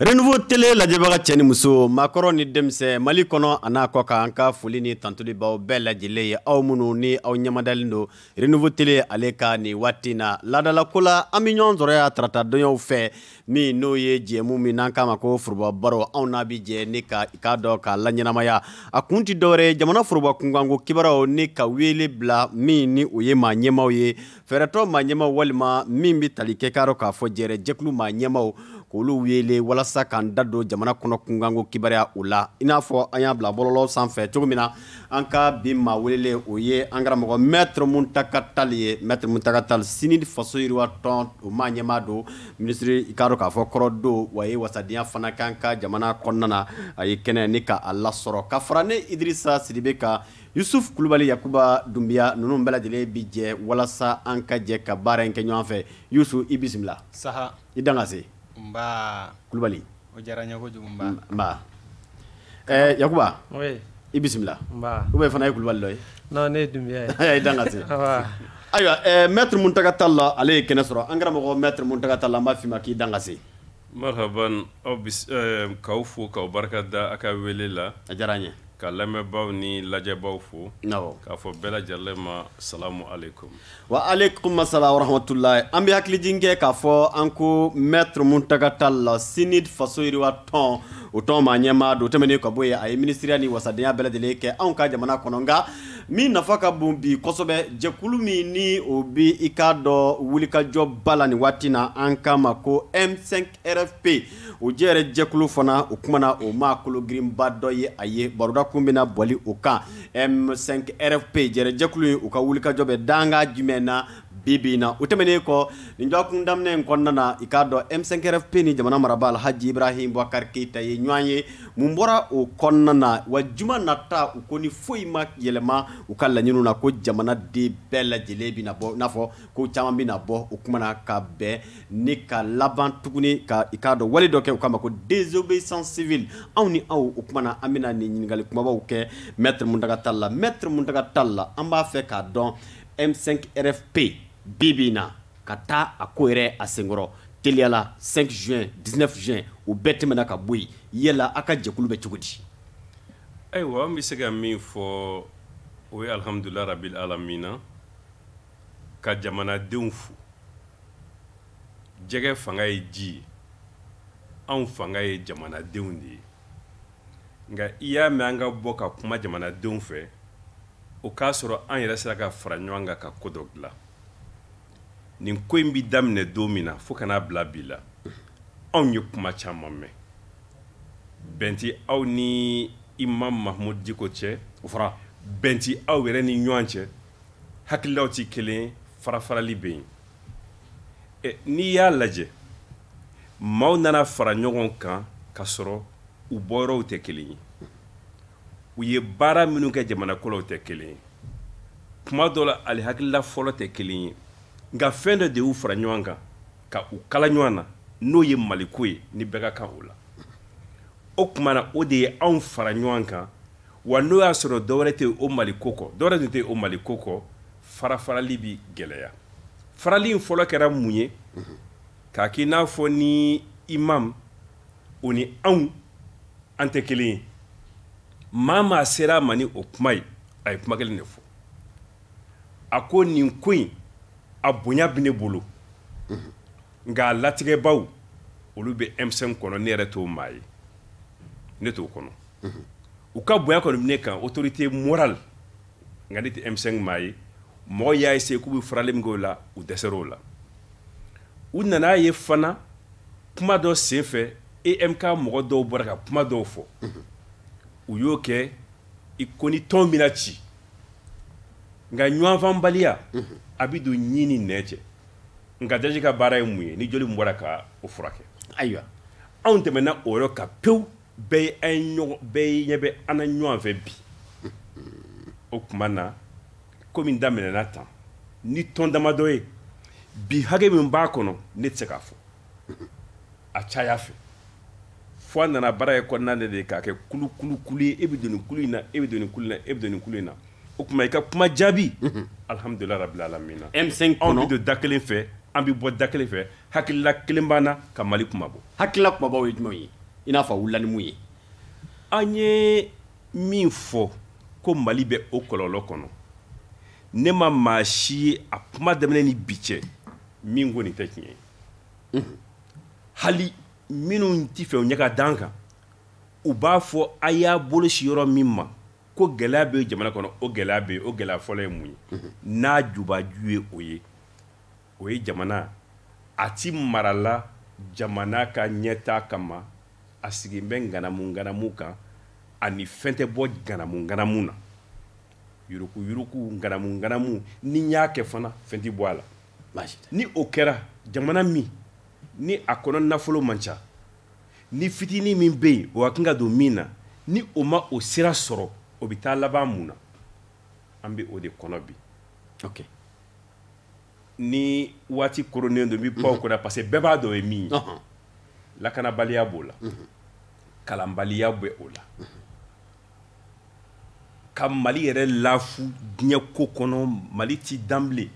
renouveau tele lajɛbaga cɛ ni muso maakɔrɔ ni denmisɛn mali kɔnɔ a n'a kɔkan an ka foli ni tantoli b'aw bɛɛ lajɛlen ye aw minnu ni aw ɲɛmadalen don renouveau tele ale ka nin waati na laadalako la an bɛ ɲɔgɔn sɔrɔ yan tarata donyaw fɛ min n'o ye jɛmu min n'an k'a ma ko foroba baro anw n'a bi jɛ ni ka i k'a dɔn k'a laɲɛnamaya a kun ti dɔwɛrɛ ye jamana foroba kunkanko kibaruyaw ni ka wele bila min ni o ye maa ɲɛmaaw ye fɛɛrɛtɔn maa ɲɛmaaw walima min bɛ tali kɛ k'a dɔn k'a fɔ jɛrɛ jɛkulu maa ɲɛmaaw k'olu wele walasa k'an da don jamana kɔnɔ kunkanko kibaruya o la i n'a fɔ an y'a bila bɔlɔlɔ sanfɛ cogo min na an ka bi maa welelen o ye an karamɔgɔ Maître Muntaka Tall ye Maître Muntaka Tall CNID faso yiriwa tɔn o maa ɲɛmaa don minisiri i k'a dɔn k'a fɔ kɔrɔ don w'a ye wasadenya fana kɛ an ka jamana kɔnɔna na a ye kɛnɛ ni k'a lasɔrɔ ka fara ne idirisa sidibe kan Yusuf kulubali yakuba dunbiya ninnu bɛɛ lajɛlen bi jɛ walasa an ka jɛ ka baara in kɛ ɲɔgɔn fɛ yusuf i bisimila saha i dan ka se nba kulubali o diyara n ye kojugu nba nba yakuba i bisimila ou bien fana ye kulubali dɔ ye i dan ka se ayiwa Maître Muntaka Tall ale ye kɛnɛ sɔrɔ an karamɔgɔ Maître Muntaka Tall an b'a f'i ma k'i dan ka se Marahaban aw bis ɛɛ k'aw fo k'aw barika da a ka wele la. A diyara an ye. Ka lamɛnbaaw ni lajɛbaaw fo. Awɔ. K'a fɔ bɛɛ lajɛlen ma salamu aleyikomu. Wa aleyikomu salamu wa rahamatulayi. An bɛ hakilijigin kɛ k'a fɔ an ko Maître Muntaka Tall, CNID faso yiriwa tɔn, o tɔn maa ɲɛmaa don. O tɛmɛnen ka bɔ yen, a ye minisiriya ni wasadenya bɛɛ lajɛlen kɛ anw ka jamana kɔnɔ. Nka min nafa ka bon bi kosɛbɛ jɛkulu min ni o bɛ i k'a dɔn wulikajɔba la nin waati na an k'a ma ko M5 RFP o jɛrɛ jɛkulu fana o kumana o maa kolo girinba dɔ ye a ye baroda kun bɛna boli o kan M5 RFP jɛrɛ jɛkulu in u ka wulikajɔ bɛ dankan jumɛn na bi bi in na o tɛmɛnen kɔ nin dɔgɔkun daminɛ in kɔnɔna na i k'a dɔn M5RFP ni jamana marabaa Alhaji Ibrahim Boubacar Keita ye ɲɔgɔn ye mun bɔra o kɔnɔna na wa juma nata u ko ni foyi ma yɛlɛma u ka laɲiniw na ko jamana den bɛɛ lajɛlen bɛna bɔ i n'a fɔ ko caman bɛna bɔ o kuma na ka bɛn ni ka laban tuguni ka i k'a dɔn wale dɔ kɛ u k'a ma ko désobéissance civile anw ni aw o kuma na an bɛna nin ɲininkali kumabaw kɛ Maître Muntaka Tall la Maître Muntaka Tall an b'a fɛ k'a dɔn M5RFP bi bi in na ka taa a ko yɛrɛ a senkɔrɔ teliyala 5 juin 19 juin o bɛɛ tɛmɛna ka bɔ yen yala a ka jɛkulu bɛ cogo di ayiwa an bɛ se ka min fɔ o ye alihamudulila rabil alamina ka jamanadenw fo jɛgɛ fanga ye ji ye anw fanga ye jamanadenw de ye nka i y'a mɛn an ka bɔ ka kuma jamanadenw fɛ o k'a sɔrɔ an yɛrɛ sera ka fara ɲɔgɔn kan ka ko dɔ dilan nin ko in bi daminɛ don min na fo ka n'a bila bi la anw ye kuma caman mɛn bɛn tɛ aw ni imam mahmud diko cɛ o fɔra bɛn tɛ aw yɛrɛ ni ɲɔgɔn cɛ hakililaw tɛ kelen farafarali bɛ yen n'i y'a lajɛ maaw nana fara ɲɔgɔn kan ka sɔrɔ u bɔyɔrɔw tɛ kelen ye u ye baara minnu kɛ jamana kɔnɔ tɛ kelen ye kuma dɔ la ali hakilila fɔlɔ tɛ kelen ye nka fɛn dɔ de y'u fara ɲɔgɔn kan ka u kala ɲɔgɔn na n'o ye maliko ye ni bɛɛ ka kan o la o tuma na o de ye anw fara ɲɔgɔn kan wa n'o y'a sɔrɔ dɔwɛrɛ tɛ o maliko kɔ dɔwɛrɛ tun tɛ o maliko kɔ farafarali bi gɛlɛya farali in fɔlɔ kɛra mun ye k'a k'i n'a fɔ ni imam o ni anw an tɛ kelen ye maa maa sera a ma ni o kuma ye a ye kuma kelen de fɔ a ko nin ko in a bonya bɛ ne bolo nka a latigɛbaw olu bɛ M5 kɔnɔ ne yɛrɛ t'o maa ye ne t'o kɔnɔ u ka bonya kɔni bɛ ne kan autorité morale nka ne tɛ M5 maa ye mɔgɔ y'a essayer k'u bɛ farali min k'o la u dɛsɛra o la u nan'a ye fana kuma dɔ senfɛ EMK mɔgɔ dɔw bɔra ka kuma dɔw fɔ u y'o kɛ i ko ni tɔn bɛna ci nka ɲɔgɔnfaamubaliya a bɛ don ɲin ni nɛn cɛ nka daji ka baara ye mun ye ni joli min bɔra ka o furakɛ ayiwa anw tɛmɛna o yɔrɔ kan pewu bɛɛ bɛɛ ɲɛ bɛ an na ɲɔgɔn fɛ bi o tuma na ko min daminɛna tan ni tɔn damadɔ ye bi hakɛ min b'a kɔnɔ ne tɛ se k'a fɔ a caya fɛ fo a nana baara ye kɔnɔna de k'a kɛ kulu kulu kulu ye e bɛ don nin kulu in na e bɛ don nin kulu in na e bɛ don nin kulu in na o tuma i ka kuma jaabi alihamudulilahi rabili alamina M5 kɔnɔ anw bɛ don da kelen fɛ an bɛ bɔ da kelen fɛ hakilila kelen b'an na ka mali kunmabɔ hakilila kunbabaw ye jumɛn ye i n'a fɔ a wulila ni mun ye an ye min fɔ ko mali bɛ o kɔlɔlɔ kɔnɔ ne ma maa si ye a kuma daminɛ ni bi cɛ min ko nin tɛ tiɲɛ ye hali minnu ti fɛ u ɲɛ ka d'an kan u b'a fɔ a y'a bolo sin yɔrɔ min ma ko gɛlɛya bɛ jamana kɔnɔ o gɛlɛya bɛ yen o gɛlɛya fɔlɔ ye mun ye n'a jubaju ye o ye o ye jamana a ti marala jamana ka ɲɛtaa kama a sigin bɛ nganamu nganamu kan ani fɛn tɛ bɔ nganamu nganamu na yuruku yuruku nganamu nganamu n'i y'a kɛ fana fɛn ti bɔ a la ni o kɛra jamana min ni a kɔnɔ nafolo man ca ni fitinin min bɛ yen o ka kan ka don min na ni o ma o sira sɔrɔ o bɛ taa laban mun na an bɛ o de kɔnɔ bi okay. ni waati koronnen don n bɛ pan o kunna parce que bɛɛ b'a dɔn o ye min ye Ɔhɔn. lakanabaliya b'o la kalanbaliya bɛ o la ka mali yɛrɛ lafu diɲɛ ko kɔnɔ mali ti dan bilen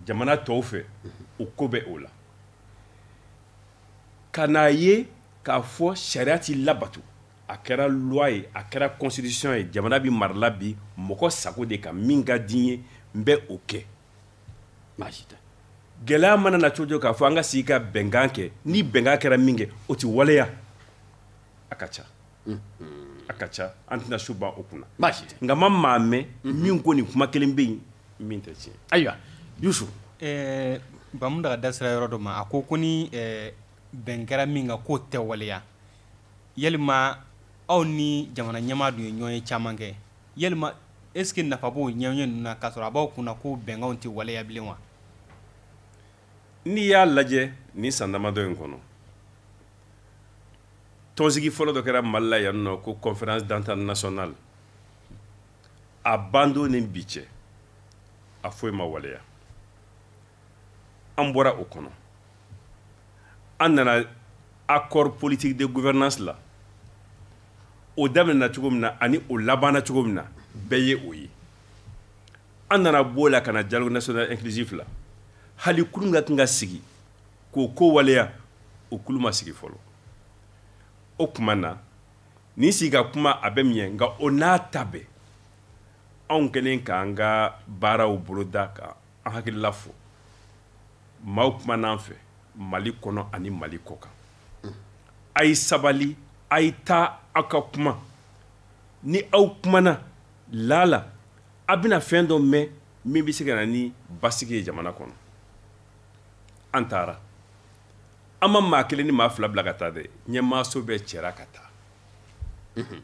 jamana tɔw fɛ o ko bɛ o la ka n'a ye k'a fɔ sariya ti labato a kɛra loi ye a kɛra constitution ye jamana bi marala bi mɔgɔ sago de kan min ka di n ye n bɛ o kɛ baasi tɛ gɛlɛya mana na cogo k'a fɔ an ka sigi ka bɛnkan kɛ ni bɛnkan kɛra min kɛ o ti waleya a ka ca a ka ca an tɛna su ban o kunna baasi tɛ nka n ma maa mɛn min ko nin kuma kelen bɛ yen min tɛ tiɲɛ ayiwa yusu ɛɛ ba muntaga da sera yɔrɔ dɔ ma a ko ko ni ɛɛ bɛn kɛra min kan k'o tɛ waleya yalima aw ni jamana ɲɛmaa dun ye ɲɔgɔnye caman kɛ yalima est ce que nafa b'o ɲɔgɔnye ninnu na k'a sɔrɔ a b'aw kunna ko bɛnkanw tɛ waleya bilen wa n'i y'a lajɛ nin san damadɔ in kɔnɔ tɔnsigi fɔlɔ dɔ kɛra mali la yan nɔ ko conférence d'entente nationale a bandon ni bi cɛ a foyi ma waleya an bɔra o kɔnɔ an nana accord politique de gouvernance la o daminɛna cogo min na ani o labanna cogo min na bɛɛ ye o ye an nana b'o la ka na dialogue national inclusif la hali kulu ka kan ka sigi k'o ko waleya o kulu ma sigi fɔlɔ o tuma na nin sigi ka kuma a bɛ mun ɲɛ nka o n'a ta bɛɛ anw kɛlen k'an ka baaraw boloda ka an hakilila fɔ maaw kuman'an fɛ mali kɔnɔ ani mali kɔkan a ye sabali a ye taa aw ka kuma ni aw kumana laala a bɛna fɛn dɔ mɛn min bɛ se ka na ni basigi ye jamana kɔnɔ an taara an ma maa kelen ni maa fila bila ka taa dɛ ɲɛmaaso bɛɛ cɛra ka taa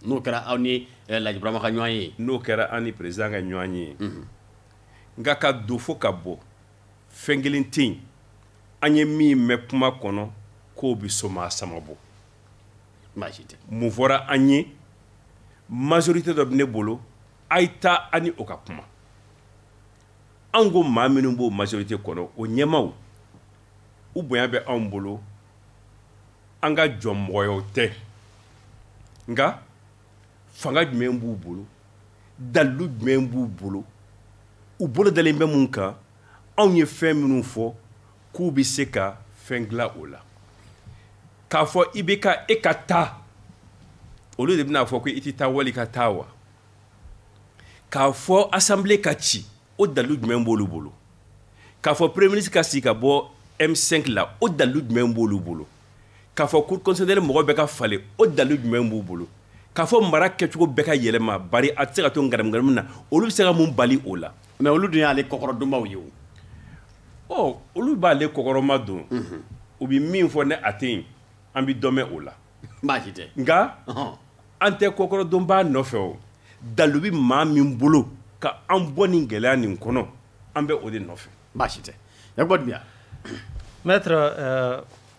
n'o kɛra an ni eh, laji burama ka ɲɔgɔnye n'o kɛra an ni président ka ɲɔgɔnye nka ka don fo ka bɔ fɛn kelen tɛ yen an ye min mɛn kuma kɔnɔ k'o bɛ somaa sama bɔ mun fɔra an ye majorité dɔ bɛ ne bolo a ye taa a ni o ka kuma anw ko maa minnu b'o majorité kɔnɔ o ɲɛmaaw u bonya bɛ anw bolo an ka jɔnmɔgɔyaw tɛ nka fanga jumɛn b'u bolo dalilu jumɛn b'u bolo u bolo dalen bɛ mun kan anw ye fɛn minnu fɔ k'u bɛ se ka fɛn dilan o la k'a fɔ ibk e ka taa olu de bɛna a fɔ ko i tɛ taa wali ka taa wa k'a fɔ assemblée ka ci o dalilu jumɛn b'olu bolo k'a fɔ premier ministre ka sigi ka bɔ m5 la o dalilu jumɛn b'olu bolo k'a fɔ cour constitutionnelle mɔgɔ bɛɛ ka falen o dalilu jumɛn b'u bolo k'a fɔ mara kɛcogo bɛɛ ka yɛlɛma bari a tɛ se ka to ngaramugaramu na olu bɛ se ka mun bali o la mais olu dun y'ale kɔkɔrɔdonbaw ye o ɔ olu b'ale kɔkɔrɔma don mhm. u bɛ min fɔ ni a tɛ yen an bɛ dɔ mɛn o la baasi tɛ nka an tɛ kɔkɔrɔdonba nɔfɛ o dalilu bɛ maa min bolo ka an bɔ nin gɛlɛya nin kɔnɔ an bɛ o de nɔfɛ baasi tɛ yakuba dunbiya maître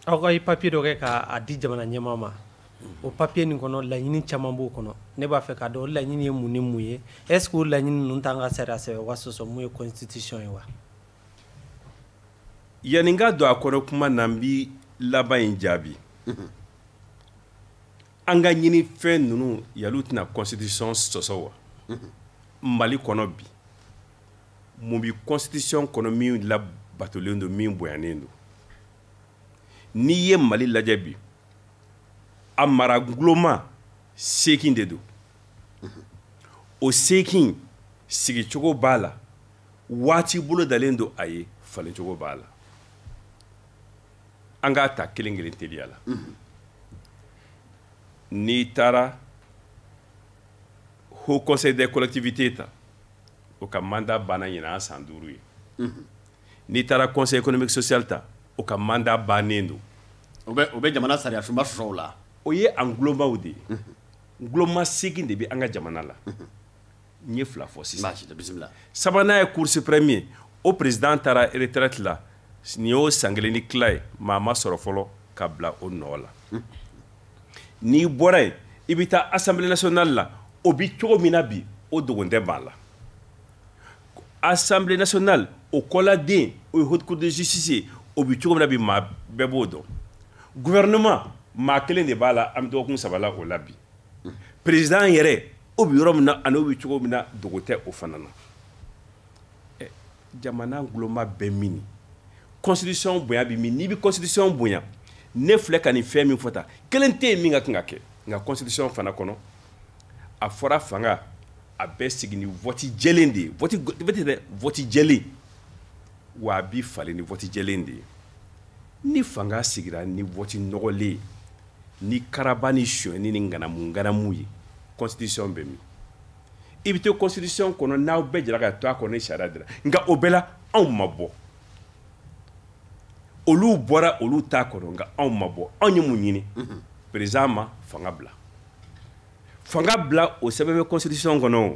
aw ka i papiye dɔ kɛ k'a di jamana ɲɛmaa ma o papiye nin kɔnɔ laɲini caman b'o kɔnɔ ne b'a fɛ k'a dɔn o laɲini ye mun ni mun ye est ce que o laɲini ninnu t'an ka sariya sɛbɛnba sɔsɔ min ye constitution ye wa yanni n ka don a kɔnɔ kuma na n bi laban in jaabi mhm. an ka ɲinifɛn ninnu yali u tɛna constitution sɔsɔ wa mhm. mali kɔnɔ bi mun bi constitution kɔnɔ min labatolen don min bonyanen don n'i ye mali lajɛ bi a mara guloma seekin de don o seekin sigicogo b'a la waati bolodalen don a ye falencogo b'a la an k'a ta kelen kelen teliya la n'i taara haut conseil des collectivités ta o ka mandat banna ɲinan san duuru ye n'i taara conseil économique social ta o ka mandat bannen don o bɛ jamana sariyasunba sɔsɔ la o ye an gulomaw de ye guloma segin de bɛ an ka jamana la n ye fila fɔ sisan sabanan ye cour suprême ye o président taara retraite la nin y'o san kelen ni tila ye maa ma sɔrɔ fɔlɔ ka bila o nɔ la n'i bɔra yen i bɛ taa assemblée nationale la o bi cogo min na bi o dogo tɛ maa la assemblée nationale o kɔladen o ye haute cour de justice ye o bi cogo min na bi maa bɛɛ b'o dɔn gouvernement maa kelen de b'a la an bɛ dɔgɔkun saba la o la bi président yɛrɛ o bi yɔrɔ min na ani o bi cogo min na dogo tɛ o fana na eh, jamana gulonba bɛ mini constitution bonya bɛ min n'i bɛ constitution bonya ne filɛ ka nin fɛn min fɔ tan kelen tɛ yen min ka kan ka kɛ nka constitution fana kɔnɔ a fɔra fanga a bɛ sigi ni vote jɛlen de ye vote vote dɛ vote jɛlen wa a bi falen ni vote jɛlen de ye ni fanga sigira ni vote nɔgɔlen ye ni karaba ni sonyɛni ni ŋanamu ŋanamu ye constitution bɛ min i bɛ to constitution kɔnɔ n'aw bɛɛ jɛra ka to a kɔnɔ ni sariya dira nka o bɛɛ la anw ma bɔ olu bɔra olu t'a kɔnɔ nka anw ma bɔ anw ye mun ɲini président ma fanga bila fanga bila o sɛbɛn bɛ constitution kɔnɔ o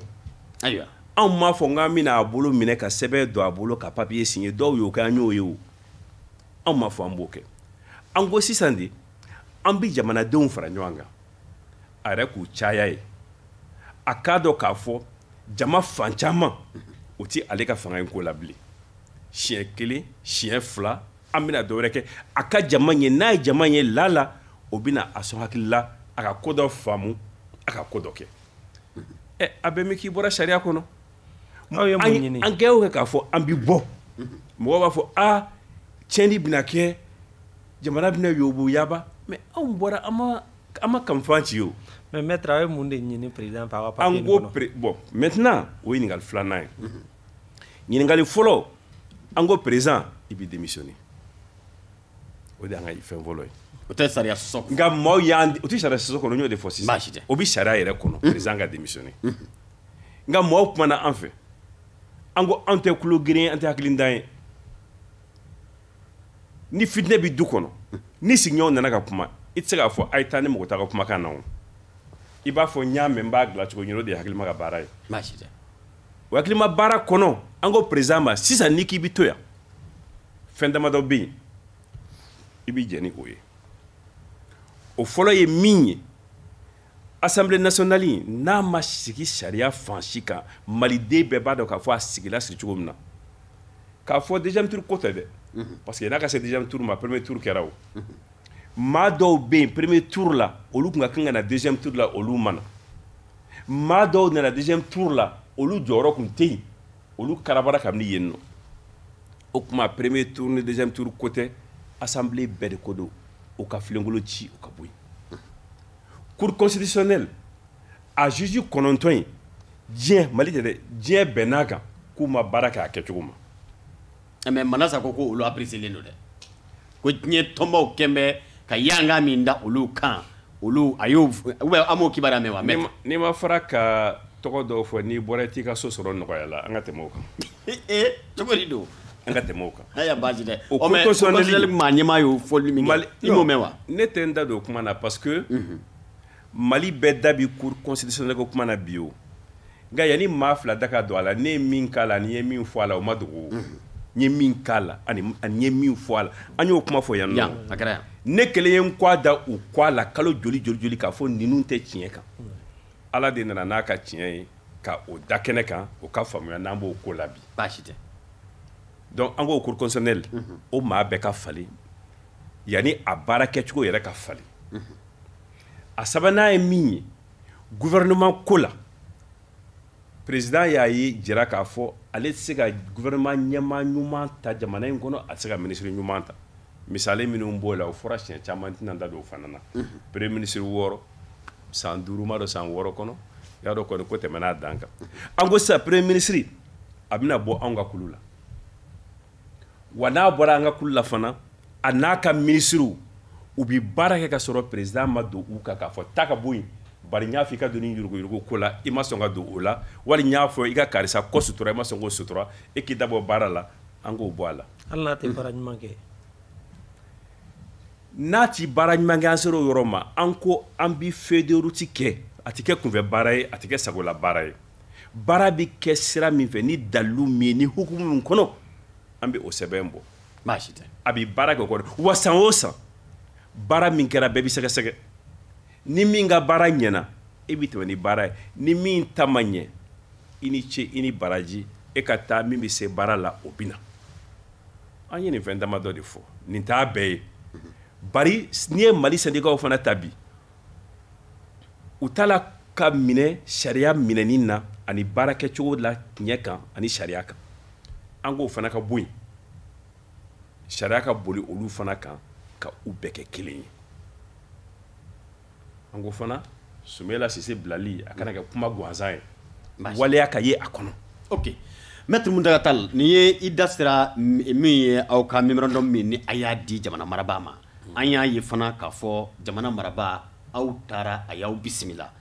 ayiwa anw m'a fɔ k'an bɛna a bolo minɛ ka sɛbɛn don a bolo ka papier signer dɔw y'o kɛ an y'o ye o anw m'a fɔ an b'o kɛ an ko sisan de an bɛ jamanadenw fara ɲɔgɔn kan a yɛrɛ k'u caya ye a k'a dɔn k'a fɔ jama fan caman o tɛ ale ka fanga in ko la bilen siɲɛ kelen siɲɛ fila an bɛna dɔ wɛrɛ kɛ a ka jama ye n'a ye jama ye lala o bɛna a sɔn hakili la a ka ko dɔ faamu a ka ko dɔ kɛ ɛ a bɛ min k'i bɔra sariya kɔnɔ aw ye mun ɲini an kɛ o kɛ k'a fɔ an bi bɔ mɔgɔw b'a fɔ aa tiɲɛni bɛna kɛ jamana bɛna yobo yaba mais anw bɔra an ma an ma kamifan ci o mais maître aw ye mun de ɲini président fɛ aw ka papier kɔnɔ an ko bon maintenant o ye ɲininkali filanan ye ɲininkali fɔlɔ an ko président i bɛ démissionner o de y'an ka fɛn fɔlɔ ye o tɛ sariya sɔsɔ nka maaw y'an o tɛ sariya sɔsɔ kɔnɔ n y'o de fɔ sisan baasi tɛ o bɛ sariya yɛrɛ kɔnɔ président ka démissionner nka maaw kumana an fɛ an ko anw tɛ tulo geren an tɛ hakilintan ye ni fitinɛ bɛ du kɔnɔ ni sigiɲɔgɔnw nana ka kuma i tɛ se k'a fɔ a ye taa ne mago t'a ka kumakan na o i b'a fɔ n y'a mɛn n b'a dilan cogo ɲini o de ye hakilima ka baara ye baasi tɛ o hakilima baara kɔnɔ an ko président ma sisan n'i k'i bɛ to yan fɛn damadɔ bɛ yen i bɛ jɛn ni o ye o fɔlɔ ye min ye assemblée nationale in n'a ma sigi sariya fan si kan maliden bɛɛ b'a dɔn k'a fɔ a sigila sigi cogo min na k'a fɔ deuxième tour ko tɛ dɛ mhm. parce que n'a ka se deuxième tour ma premier tour kɛra o mhm. maa dɔw bɛ yen premier tour la olu tun ka kan ka na deuxième tour la olu ma na maa dɔw nana deuxième tour la olu jɔyɔrɔ kun tɛ yen olu karabara ka bin yen nɔ o tuma premier tour ni deuxième tour ko tɛ assemblée bɛɛ de ko don o ka filenkolo ci o ka bɔ yen cour constitutionnelle a juge kɔnɔntɔn in diɲɛ mali tɛ dɛ diɲɛ bɛnn'a kan k'u ma baara kɛ a kɛcogo ma mais manasa ko ko olu appréciélen don dɛ ko diɲɛ tɔnbaw kɛlen bɛ ka yanga min da olu kan olu a y'o an m'o kibaruya mɛn wa mais n'i ma fara ka tɔgɔ dɔw fɔ n'i bɔra i t'i ka so sɔrɔ nɔgɔya la an ka tɛmɛ o kan ee cogo di don an ka tɛmɛ o kan ayiwa baasi tɛ o cour constitutionnelle maa ɲɛmaa y'o fɔli min kɛ i m'o mɛn wa ne tɛ n da don o kuma na parce que mali bɛɛ da bi cour constitutionnelle ko kuma na bi o nka yanni maa fila da ka don a la ne ye min k'a la ani n ye min fɔ a la o ma dogo n ye min k'a la ani n ye min fɔ a la an y'o kuma fɔ yan nɔ a kɛra yan ne kelen ye n kɔ a da u kɔ a la kalo joli joli joli k'a fɔ ninnu tɛ tiɲɛ kan ala de nana n'a ka tiɲɛ ye ka o da kɛnɛ kan o ka faamuya n'an b'o ko la bi baasi tɛ donc an ko cour constitutionnelle o maa bɛɛ ka falen yanni a baara kɛcogo yɛrɛ ka falen a sabanan ye min ye gouvernement ko la président y'a yɛrɛ jira k'a fɔ ale tɛ se ka gouvernement ɲɛmaa ɲuman ta jamana in kɔnɔ a tɛ se ka ministre ɲuman ta misali minnu b'o la o fɔra siɲɛ caman n tɛna n da don o fana na premier ministre wɔɔrɔ san duuru m'a dɔn san wɔɔrɔ kɔnɔ i y'a dɔn kɔni ko tɛmɛna a dan kan an ko sisan premier ministre a bɛna bɔ anw ka kulu la wa n'a bɔra an ka kulu la fana a n'a ka minisiriw u bɛ baara kɛ ka sɔrɔ peresidan ma don u kan k'a fɔ taa ka bɔ yen bari n y'a fɔ i ka don nin yuruguyurugu ko la i ma sɔn ka don o la wali n y'a fɔ i ka karisa ko sutura i ma sɔn k'o sutura e k'i da bɔ baara la an k'o bɔ a la hali n'a tɛ baara ɲuman kɛ n'a tɛ baara ɲuman kɛ an sera o yɔrɔ ma an ko an bɛ feuille de route kɛ a tɛ kɛ kunfɛ baara ye a tɛ kɛ sagola baara ye baara bɛ kɛ sira min fɛ ni dalilu min ye ni hukumu min kɔnɔ an bɛ o sɛbɛn bɔ baasi tɛ a bɛ baara kɛ o kɔnɔ wa san o san baara min kɛra bɛɛ bɛ sɛgɛsɛgɛ ni min ka baara ɲɛna e bɛ tɛmɛ ni baara ye ni min ta ma ɲɛ i ni ce i ni baraji e ka taa min bɛ se baara la o bɛ na an ye nin fɛn damadɔ de fɔ nin t'a bɛɛ ye bari n'i ye mali sɛndikaw fana ta bi u t'a la ka minɛ sariya minɛni na ani baara kɛcogo la tiɲɛ kan ani sariya kan an ko o fana ka bɔ yen sariya ka boli olu fana kan ka u bɛɛ kɛ kelen ye an ko fana sumayila sise bilali a kana kɛ kuma gansan ye waleya ka ye a kɔnɔ ok mɛtiri muntaga tal nin ye i da sera min ye aw ka memorandum min ni a y'a di jamana marabaa ma an y'a ye fana k'a fɔ jamana marabaa aw taara a y'aw bisimila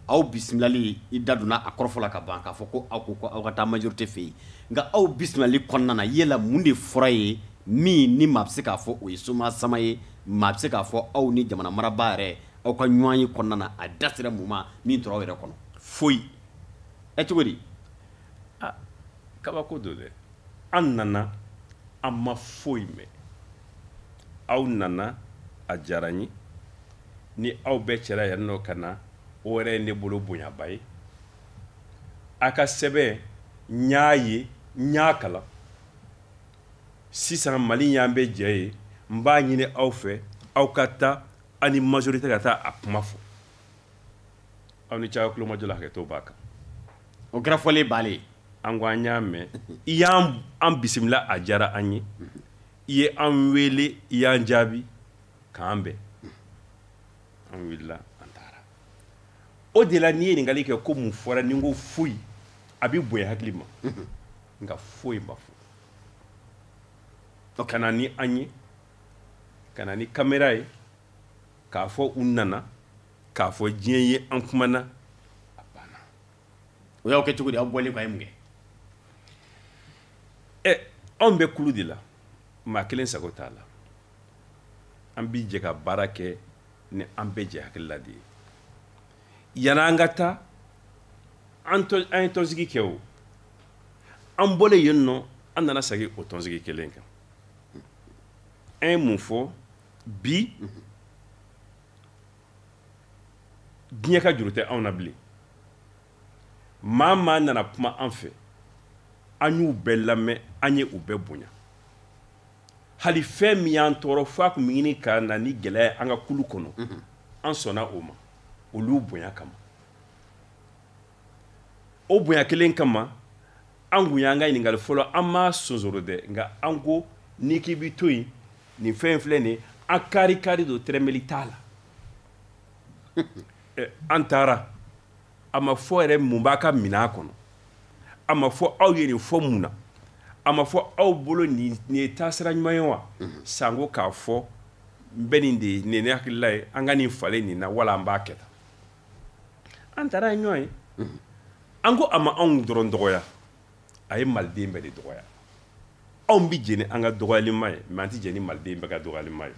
aw bisimilali i da donna a kɔrɔfɔ la ka ban k'a fɔ ko aw ko ko aw ka taa majorité fɛ yen nka aw bisimilali kɔnɔna na yala mun de fɔra ye min ni maa bɛ se k'a fɔ o ye somaa sama ye maa bɛ se k'a fɔ aw ni jamana marabaa yɛrɛ aw ka ɲɔgɔnye kɔnɔna na a da sera mun ma min tora aw yɛrɛ kɔnɔ foyi ɛ cogo di kabako don dɛ an nana an ma foyi mɛn aw nana a diyara n ye ni aw bɛɛ jɛra yan nɔ ka na o yɛrɛ ye ne bolo bonyaba ye a ka sɛbɛn n y'a ye n y'a kalan sisan mali y'an bɛɛ jɛ ye n b'a ɲini aw fɛ aw ka taa aw ni majorité ka taa a kuma fɔ aw ni caya kulomajɔ la hakɛto b'a kan o kɔrɔfɔlen banlen an ko an y'a mɛn i y'an bisimila a diyara an ye i ye an wele i y'an jaabi k'an bɛn an wulila an taara o de la n'i ye ɲininkali kɛ ko mun fɔra ni n ko foyi a bɛ bonya hakili ma nka foyi ma fɔ ka na ni an ye ka na ni kamera ye k'a fɔ u nana k'a fɔ diɲɛ ye an kumana o y'aw kɛ cogo di aw bɔlen kɔ a ye mun kɛ ɛ eh, anw bɛ kulu de la maa kelen sago t'a la an bi jɛ ka baara kɛ ni an bɛɛ jɛ hakilila de ye yann'an ka taa an ye tɔnsigi kɛ o an bɔlen yen nɔ an nana segin o tɔnsigi kelen kan an ye mun fɔ bi diɲɛ ka juru tɛ anw na bilen maa maa nana kuma an fɛ an y'u bɛɛ lamɛn an ye u bɛɛ bonya hali fɛn min y'an tɔɔrɔ fo a kun bɛ ɲini ka na ni gɛlɛya ye an ka kulu kɔnɔ an sɔnna o ma olu bonya kama o bonya kelen kama an kun y'an ka ɲininkali fɔlɔ an m'a sonsoro dɛ nka an ko n'i k'i bi to yen nin fɛn in filɛ nin ye an karikari don tɛrɛmɛli t'a la eh, an taara a ma fɔ yɛrɛ mun b'a ka minɛn kɔnɔ a ma fɔ aw ye nin fɔ mun na a ma fɔ aw bolo nin ye taasira ɲuman ye wa mhm. sanko k'a fɔ n bɛ nin de ye nin ye ne hakilila ye an ka nin falen nin na wala an b'a kɛ tan an taara ɲɔgɔn ye an ko a ma anw dɔrɔn dɔgɔya a ye maliden bɛɛ de dɔgɔya anw bɛ jɛn ni an ka dɔgɔyalima ye mɛ an tɛ jɛn ni maliden bɛɛ ka dɔgɔyalima ye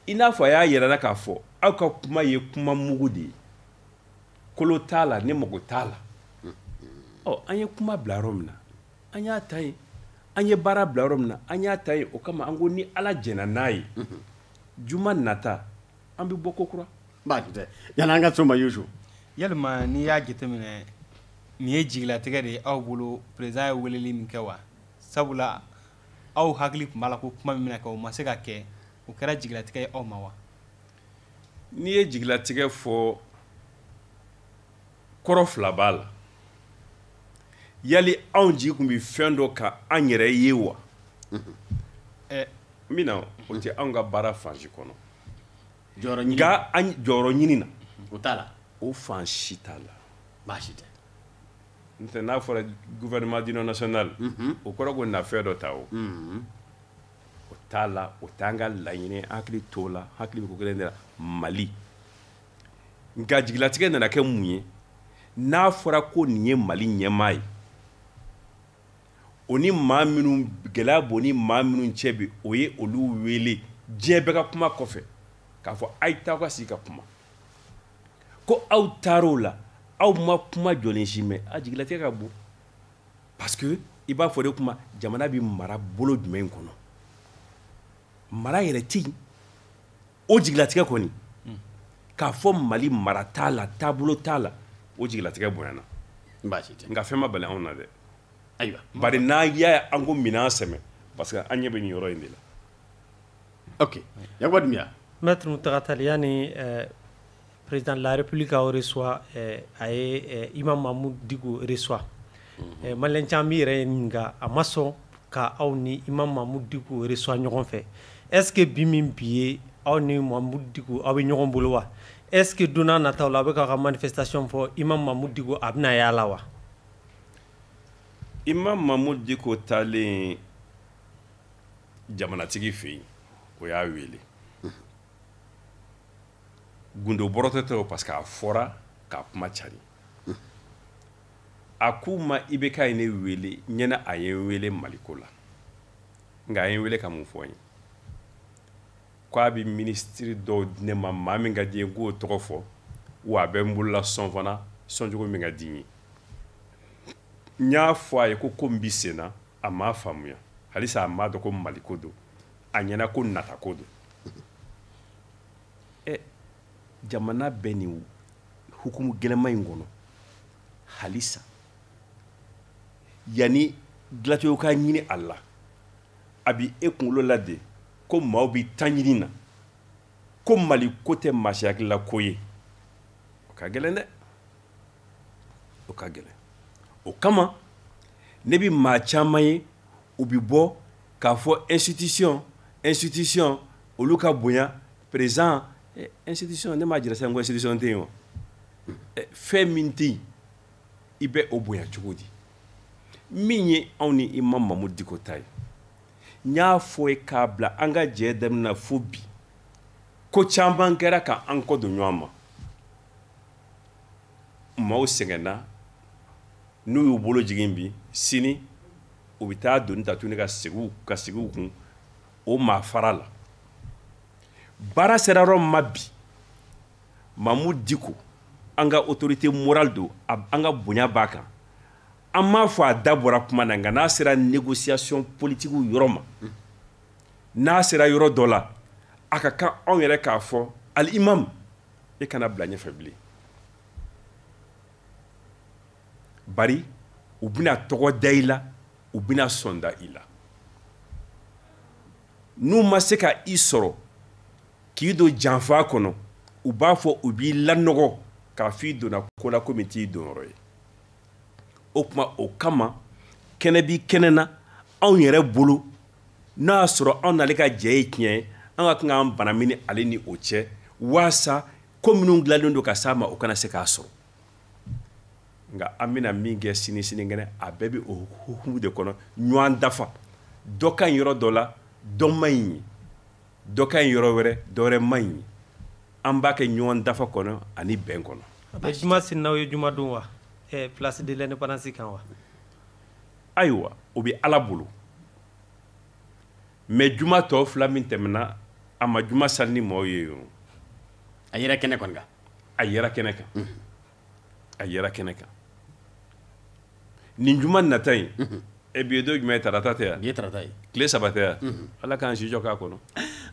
i n'a fɔ a y'a yira an na k'a fɔ aw ka kuma ye kuma mugu de ye kolo t'a la ne mago t'a la ɔ an ye kuma bila yɔrɔ min na an y'a ta yen an ye baara bila yɔrɔ min na an y'a ta yen o kama an ko ni ala jɛna n'a ye juma nata an bɛ bɔ ko kura baasi tɛ yanni an ka s'o ma yusu yalima n'i y'a jateminɛ nin ye jigilatigɛ de ye aw bolo président ye weleli min kɛ wa sabula aw hakili tun b'a la ko kuma min bɛna kɛ o ma se ka kɛ o kɛra jigilatigɛ ye aw ma wa n'i ye jigilatigɛ fɔ kɔrɔ fila b'a la yali anw jigi tun bɛ fɛn dɔ kan an yɛrɛ ye wa min na o tɛ anw ka baara fan si kɔnɔ jɔyɔrɔ ɲini nka an jɔyɔrɔ ɲini na o t'a la o fan si t'a la baasi tɛ n'o tɛ n'a fɔra gouvernement d'union nationale o kɔrɔ ko na fɛn dɔ ta o o t'a la o t'an ka laɲini ye, an hakili t'o la hakili bɛ ko kelen de la mali nka jigilatigɛ nana kɛ mun ye n'a fɔra ko nin ye mali ɲɛmaa ye o ni maa minnu gɛlɛya b'o ni maa minnu cɛ bi o ye olu wele diɲɛ bɛɛ ka kuma kɔfɛ k'a fɔ a ye taa ka sigi ka kuma ko aw taar'o la aw ma kuma jɔlen si mɛn a jigilatigɛ ka bon parce que i b'a fɔ de kuma jamana bɛ mara bolo jumɛn kɔnɔ mara yɛrɛ tɛ yen o jigilatigɛ kɔni k'a fɔ mali mara t'a la taabolo t'a la o jigilatigɛ bonyana nka fɛn ma bali anw na dɛ ayiwa bari n'a y'a ye an ko minɛn sɛmɛ parce que an ɲɛ bɛ nin yɔrɔ in de la ok yakuba dunbiya mɛtiri muntaga tal yanni eh, Président de la République k'aw reçoit eh, a ye eh, Imam Mahmoud Dicko reçoit eh, malien caman b'i yɛrɛ ɲininka a ma sɔn ka aw ni Imam Mahmoud Dicko reçoit ɲɔgɔn fɛ est ce que bi min bi ye aw ni Mahmoud Dicko aw bɛ ɲɔgɔn bolo wa est ce que don nataw la aw bɛ k'aw ka manifestation fɔ Imam Mahmoud Dicko a bɛna y'a la wa. Imam Mahmoud Dicko taalen jamanatigi fɛ yen o y'a wele. gundo bɔrɔtɔ tɛ o parce que a fɔra k'a kuma cari a kun ma IBK ye ne wele n ɲɛ na a ye n wele maliko la nka a ye n wele ka mun fɔ n ye ko a bɛ minisitiri dɔw di ne ma maa min ka di n ye k'o tɔgɔ fɔ wa a bɛ n bolola sɔn fana sɔncogo min ka di n ye n y'a fɔ a ye ko ko n bɛ sen na a m'a faamuya halisa a m'a dɔn ko maliko don a ɲɛ na ko natako don ɛ jamana bɛ nin hukumu gɛlɛman in kɔnɔ halisa yanni dilacogo ka ɲini a la a bi e kunkolo la de ko maaw bi ta ɲini na ko mali ko tɛ maa si hakilila ko ye o ka gɛlɛn dɛ o ka gɛlɛn o kama ne bi maa caman ye u bi bɔ k'a fɔ institution institution olu ka bonya président eh, institution ne m'a jira sisan ko institution tɛ yen wa eh, fɛn min tɛ yen i bɛ o bonya cogo di min ye anw ni imam mahmoud dicko ta ye n y'a fɔ ye k'a bila an ka jɛ daminɛ na fo bi ko caman kɛra ka an kɔ don ɲɔgɔn ma maaw sɛgɛnna n'u y'u bolo jigin bi sini u bɛ taa doni ta tuguni ka sigi u kun o maa fara la baara sera yɔrɔ min ma bi mahmoud dicko an ka autorité morale don an ka bonya b'a kan an m'a fɔ a da bɔra kuma na nka n'a sera négociation politique yɔrɔ ma n'a sera yɔrɔ dɔ la a ka kan anw yɛrɛ k'a fɔ al imam e kana bila ɲɛfɛ bilen bari u bɛna tɔgɔ da i la u bɛna sɔn da i la n'u ma se ka i sɔrɔ k'i don janfa kɔnɔ u b'a fɔ u b'i lanɔgɔ k'a fɔ i donna ko la ko min t'i donyɔrɔ ye o tuma o kama kɛnɛ b'i kɛnɛ na anw yɛrɛ bolo N'o y'a sɔrɔ anw n'ale ka jɛ ye tiɲɛ ye an ka kan k'an banamini ale ni o cɛ waasa ko minnu dilanlen don ka s'a ma o kana se k'a sɔrɔ nka an bɛna min kɛ sini sinikɛnɛ a bɛɛ bɛ o hukumu de kɔnɔ ɲɔgɔn dafa dɔ ka ɲi yɔrɔ dɔ la dɔ man ɲi yen dɔ ka ɲi yɔrɔ wɛrɛ dɔ wɛrɛ man ɲi yen an b'a kɛ ɲɔgɔn dafa kɔnɔ ani bɛn kɔnɔ a bɛ juma seli n'aw ye juma don wa place de l'indépendance kan wa ayiwa o bɛ ala bolo mais juma tɔ fila min tɛmɛna a ma juma sali ni maaw ye o a yɛrɛ kɛnɛ kan a yɛrɛ kɛnɛ kan mhm. a yɛrɛ kɛnɛ kan nin juma nata in mhm. e bi ye don jumɛn ye tarata tɛ yan tarata ye tile saba tɛ yan mhm. ala k'an si jɔ k'a kɔnɔ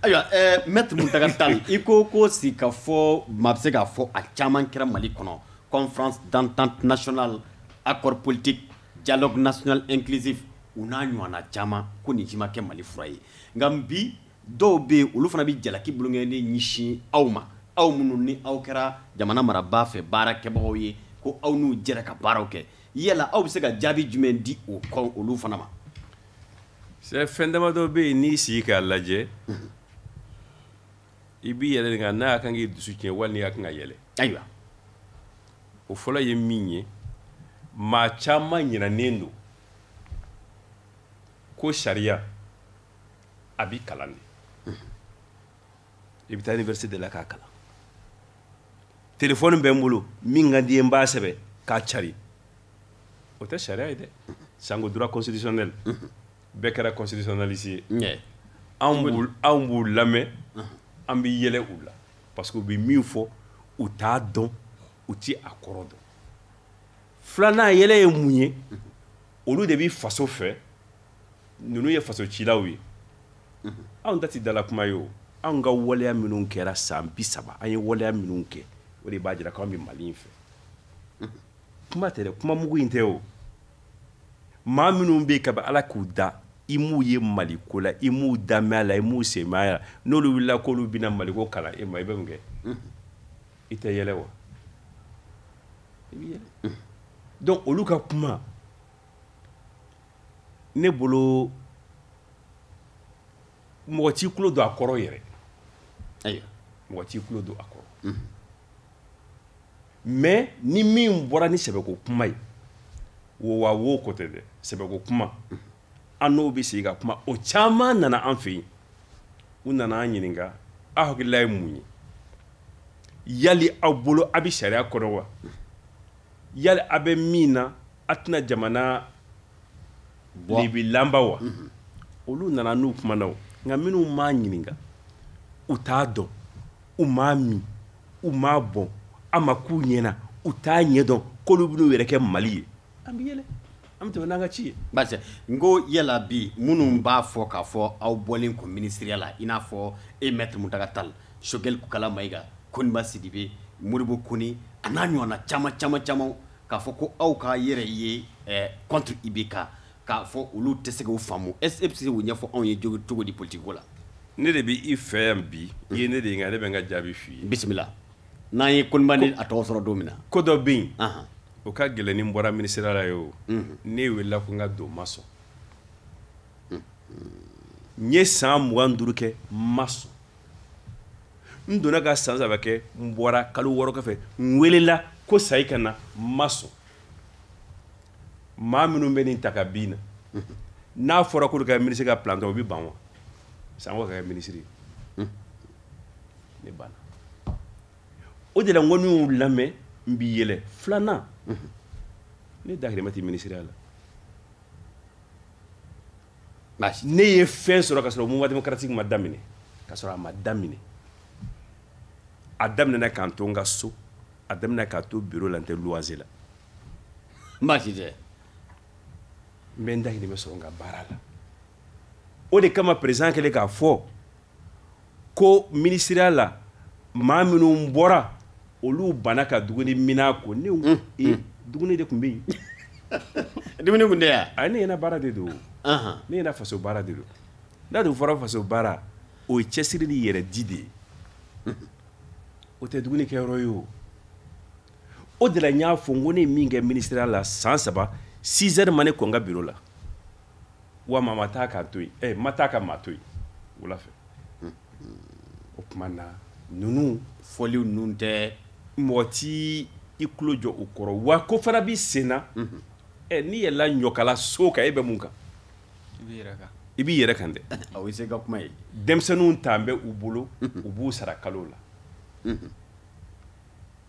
ayiwa maître mountaga tall i ko ko sigikafɔ maa bɛ se k'a fɔ a caman kɛra mali kɔnɔ conférence d'entente nationale accord politique Dialogue national inclusif u n'a ɲɔgɔnna caman ko nin si ma kɛ Mali fura ye nka bi dɔw bɛ yen olu fana bɛ jalaki bolonkɔnin ɲɛsin aw ma aw minnu ni aw kɛra jamana marabaa fɛ baara kɛbagaw ye ko aw n'u jɛra ka baaraw kɛ yala aw bɛ se ka jaabi jumɛn di o kɔ olu fana ma. C'est fɛn damadɔ bɛ yen n'i sigi k'a lajɛ. i b'i yɛrɛ ɲininka n'a ka kan k'i dusu tiɲɛ wali n'i ka kan ka yɛlɛ ayiwa o fɔlɔ ye min ye maa caman ɲinanen don ko sariya a bi kalan de i bɛ taa université de la k'a kalan telefɔni bɛ n bolo min ka di n ye n b'a sɛbɛn k'a cari o tɛ sariya ye dɛ sango droit constitutionnel bɛɛ kɛra constitutionnaliste ye ɲɛ anw b'u anw b'u lamɛn an bɛ yɛlɛ u la parce que u bɛ min fɔ u t'a dɔn u ti a kɔrɔ dɔn filanan yɛlɛ ye mun ye olu de bɛ faso fɛ ninnu ye faso cilaw ye anw ta tɛ dala kuma ye o anw ka waleya minnu kɛra san bi saba an ye waleya minnu kɛ o de b'a jira k'an bɛ mali in fɛ kuma tɛ dɛ kuma mugu in tɛ o maa minnu bɛ yen kabi ala k'u da i m'u ye maliko la i m'u dama y'a la i m'u senma y'a la n'olu wulila k'olu bɛna maliko kalan e ma i bɛ mun kɛ i tɛ yɛlɛ wa i bɛ yɛlɛ donc olu ka kuma ne bolo mɔgɔ t'i tulo don a kɔrɔ yɛrɛ ayiwa mɔgɔ t'i tulo don a kɔrɔ mais ni min bɔra ni sɛbɛko kuma ye wo wa wo ko tɛ dɛ sɛbɛko kuma an n'o bɛ sigi ka kuma o caman nana an fɛ yen u nana an ɲininka aw hakilila ye mun ye yali aw bolo a bɛ sariya kɔnɔ wa yali a bɛ min na a tɛna jamana lebilanba wa mhm. olu nana an n'u kumana o nka minnu m'a ɲininka u t'a dɔn u m'a min u m'a bɔn a ma k'u ɲɛna u t'a ɲɛdɔn k'olu bɛn'u yɛrɛ kɛ mali ye an bɛ yɛlɛ an bɛ tɛmɛ n'an ka ci ye basi n ko yala bi minnu b'a fɔ k'a fɔ aw bɔlen kɔ minisiriya la i n'a fɔ e maître muntaga tal sogɛli kokala mayiga koniba sidibe modibo kone a n'a ɲɔgɔnna caman caman caman k'a fɔ ko aw ka yɛrɛ ye eh, contre IBK k'a fɔ olu tɛ se k'o faamu est ce que e bɛ se k'o ɲɛfɔ anw ye cogo di politique ko la. ne de bɛ i fɛ yan bi i ye ne de ɲininka ne bɛ n ka jaabi f'i ye. bisimila n'an ye koniba ni a tɔw sɔrɔ don min na. ko dɔ bɛ yen. o ka gɛlɛn ni n bɔra minisiriya la ye o. ne welela ko n ka don n ma sɔn. n ye san mugan ni duuru kɛ n ma sɔn. n donna ka san saba kɛ n bɔra kalo wɔɔrɔ kɔfɛ n welela ko sayi ka na n ma sɔn maa minnu bɛ nin ta ka bin na n'a fɔra k'olu ka minisiri ka planton o bɛ ban wa sanko ka kɛ minisiri ne banna o de la n ko ni n y'u lamɛn n bi yɛlɛ filanan ne dahirimɛ tɛ minisiriya la ne ye fɛn sɔrɔ ka sɔrɔ mouvement démocratique ma daminɛ ka sɔrɔ a ma daminɛ a daminɛna ka n to n ka so a daminɛna k'a to bureau la n tɛ luwanse la baasi tɛ n bɛ n dahirimɛ sɔrɔ n ka baara la o de kama président kɛlen k'a fɔ ko minisiriya la maa minnu bɔra olu banna ka dumuni mina ko ne mm, mm. dumuni de tun bɛ yen dumuni tun tɛ yan a ne ɲɛna baara de don ne ɲɛna faso baara de don n'a dun fɔra faso baara o ye cɛsiri ni yɛrɛ di de ye o tɛ dumuni kɛyɔrɔ ye o o de la n y'a fɔ n ko ne ye min kɛ minisiriya la san saba 6 heures ma ne kɔn n ka biro la wa maa ma taa k'a to yen ɛ eh, ma taa ka maa to yen wula fɛ o tuma na ninnu fɔliw ninnu tɛ mɔgɔ t'i tulo jɔ u kɔrɔ wa ko fana b'i sen na mhm. ɛ eh, n'i yɛlɛla ɲɔkala so kan e bɛ mun kan i b'i yɛrɛ kan dɛ o ye se ka kuma ye denmisɛnninw tan bɛ u bolo mhm. u b'u sara kalo la mhm.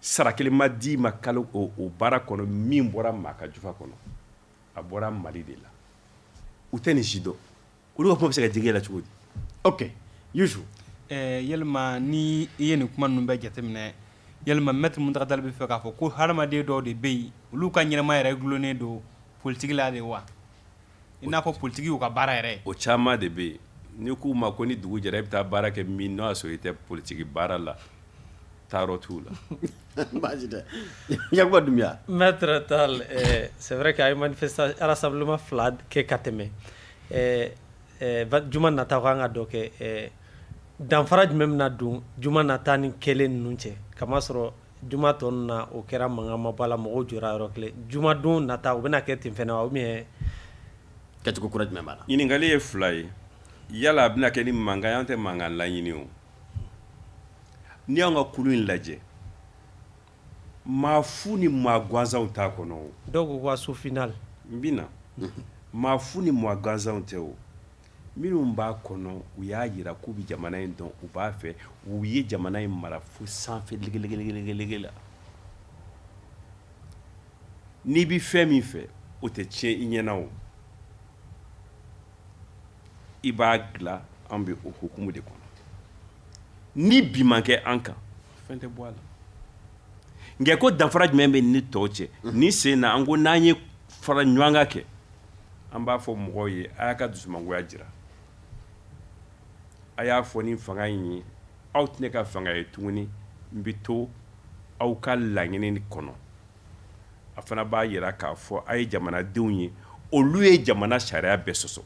sara kelen ma di ma kalo o o baara kɔnɔ min bɔra maa ka jufa kɔnɔ a bɔra mali de la u tɛ nin si dɔn olu ka kuma bɛ se ka digi ne la cogo di ok yusu eh, yalima ni i ye nin kuma ninnu bɛɛ jateminɛ yalima mɛtiri muntaga tal bɛ fɛ k'a fɔ ko hadamaden dɔw de bɛ yen olu ka ɲɛnamaya yɛrɛ dulonnen don politiki la de wa i n'a fɔ politiki y'u ka baara yɛrɛ o caman de bɛ yen n'i k'u ma ko ni dugu jɛra i bɛ taa baara kɛ min n'o y'a sɔrɔ i tɛ politiki baara la taayɔrɔ t'u la baasi tɛ yakuba dunbiya maître tal eh, c'est vrai que a ye manifestation rassemblement fila kɛ ka tɛmɛ eh, eh, juma nata ko an ka dɔ kɛ eh, danfara jumɛn bɛna don juma nata ni kɛlen ninnu cɛ kamasɔrɔ Juma tɔ ninnu na o kɛra mankan ma bɔ a la mɔgɔw jɔra yɔrɔ kelen jumadon nata o bɛna kɛ ten fana wa ou bien kɛcogo kura jumɛn b'a la ɲininkali ye fila ye yala a bɛna kɛ ni mankan ye an tɛ mankan laɲini o n'i y'an ka kulu in lajɛ maa fu ni maa gansanw t'a kɔnɔ o dɔw ko k'assaut final n bɛ na maa fu ni maa gansanw tɛ o minnu b'a kɔnɔ u y'a yira k'u bɛ jamana in dɔn u b'a fɛ u ye jamana in mara fo sanfɛ legelege la n'i bɛ fɛn min fɛ o tɛ tiɲɛ i ɲɛna o i b'a dilan an bɛ o hukumu de kɔnɔ ni bin ma kɛ an kan fɛn tɛ bɔ a la nka ko danfara jumɛn bɛ ni tɔw cɛ nin sen na an ko n'an ye faraɲɔgɔnkan kɛ an b'a fɔ mɔgɔw ye a y'a ka dusumangoya jira a y'a fɔ ni fanga in ye aw tɛ ne ka fanga ye tuguni n bɛ to aw ka laɲini kɔnɔ a fana b'a yira k'a fɔ a ye jamanadenw ye olu ye jamana sariya bɛɛ sɔsɔ